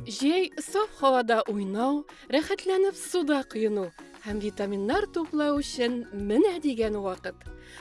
Җәй саф һавада уйнау, рәхәтләнеп суда коену һәм витаминнар туплау өчен менә дигән вакыт.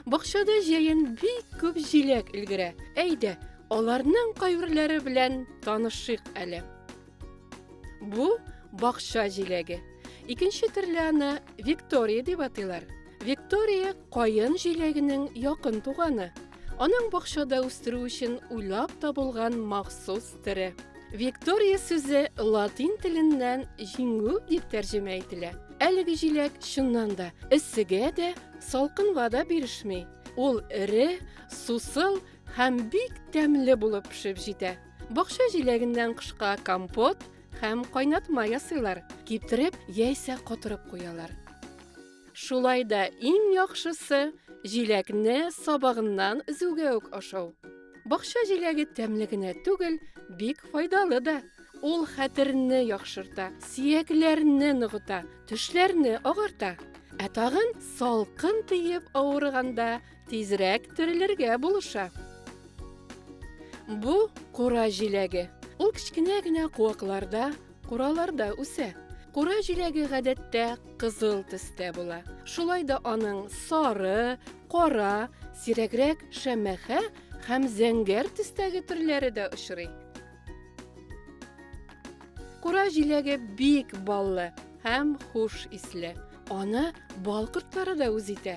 Бакчада җәен бик күп җиләк өлгерә. Әйдә, аларның кайберләре белән танышыйк әле. Бу бакча җиләге. Икенче төрле аны Виктория дип атыйлар. Виктория каен җиләгенең якын туганы. Аның бакчада үстерү өчен уйлап табылган махсус төре. Виктория сүзе латин теленнән җиңү дип тәрҗемә ителә. Әлеге җиләк чыннан да эссегә дә, салкынга да бирешми. Ул эре, сусыл һәм бик тәмле булып пешеп җитә. Бакча җиләгеннән кышка компот һәм кайнатма ясыйлар, киптереп яисә котырып куялар. Шулай да иң яхшысы җиләкне сабагыннан өзүгә үк ашау. Бакча җиләге тәмле генә түгел, бик файдалы да. Ул хәтерне яхшырта, сиякләрне ныгыта, төшләрне агарта. Ә тагын салкын тиеп авырганда Тизрәк терелергә булыша. Бу кура җиләге. Ул кечкенә генә куакларда, кураларда үсә. Кура җиләге гадәттә кызыл төстә була. Шулай да аның сары, кара, сирәгрәк шәмәхә һәм зәңгәр төстәге төрләре дә очрый. Кура җиләге бик баллы һәм хуш исле. Аны бал кортлары да үз итә.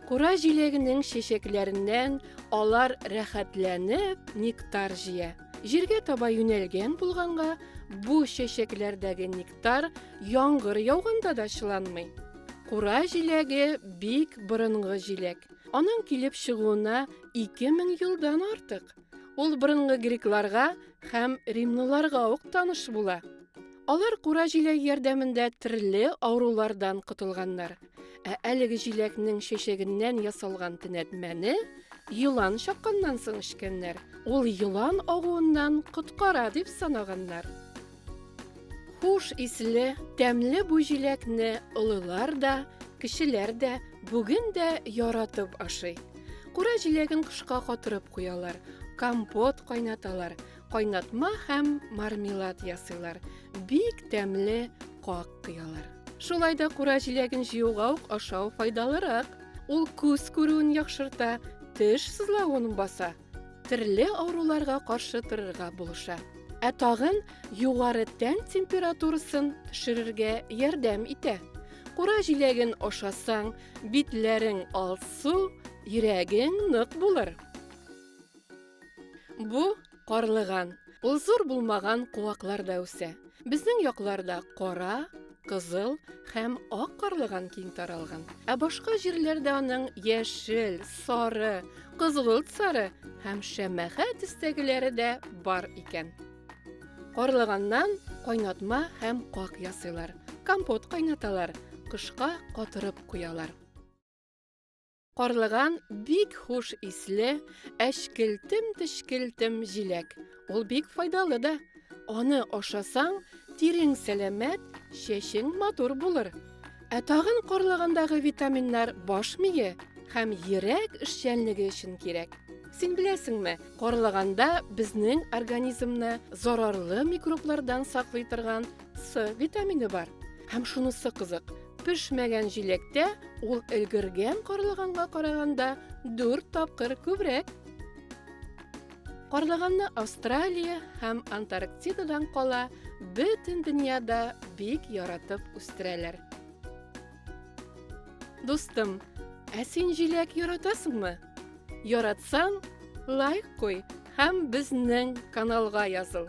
Кура җиләгенең чәчәкләреннән алар рәхәтләнеп нектар җыя. Җиргә таба юнәлгән булганга, бу чәчәкләрдәге нектар яңгыр яуганда да чыланмый. Кура җиләге бик борынгы җиләк. Аның килеп чыгуына 2000 елдан артык. Ул борынгы грекларга һәм римлыларга ук таныш була. Алар кура җиләге ярдәмендә төрле авырулардан котылганнар. Ә әлеге җиләкнең чәчәгеннән ясалган төнәтмәне елан чакканнан соң эчкәннәр. Ул елан агуыннан коткара дип санаганнар. Хуш исле, тәмле бу җиләкне олылар да, кешеләр дә бүген дә яратып ашый. Кура җиләген кышка катырып куялар, компот кайнаталар, кайнатма һәм мармелад ясыйлар. Бик тәмле как кыялар. Шулай да кура җиләген җыюга ук ашау файдалырак. Ул күз күрүен яхшырта, теш сызлавын баса. Төрле авыруларга каршы торырга булыша. Ә тагын югары тән температурасын төшерергә ярдәм итә. Кура җиләген ашасаң, битләрең алсу, йөрәгең нык булыр. Бу карлыган. Ул зур булмаган куакларда үсә. Безнең якларда кара, кызыл һәм ак карлыган киң таралган. Ә башка җирләрдә аның яшел, сары, кызгылт сары һәм шәмәхә төстәгеләре дә бар икән. Карлыганнан кайнатма һәм как ясыйлар. Компот кайнаталар, кышка катырып куялар. Карлыган бик хуш исле, әчкелтем-тешкелтем җиләк. Ул бик файдалы да. Аны ашасаң, тирең сәламәт, чәчең матур булыр. Ә тагын карлыгандагы витаминнар баш мие һәм йөрәк эшчәнлеге өчен кирәк. Син беләсеңме, карлыганда безнең организмны зарарлы микроблардан саклый торган С витамины бар. Һәм шунысы кызык, пешмәгән җиләктә ул өлгергән карлыганга караганда 4 тапкыр күбрәк. Карлыганны Австралия һәм Антарктидадан кала бөтен дөньяда бик яратып үстерәләр. Дустым, ә син җиләк яратасыңмы? Яратсаң, лайк куй һәм безнең каналга языл.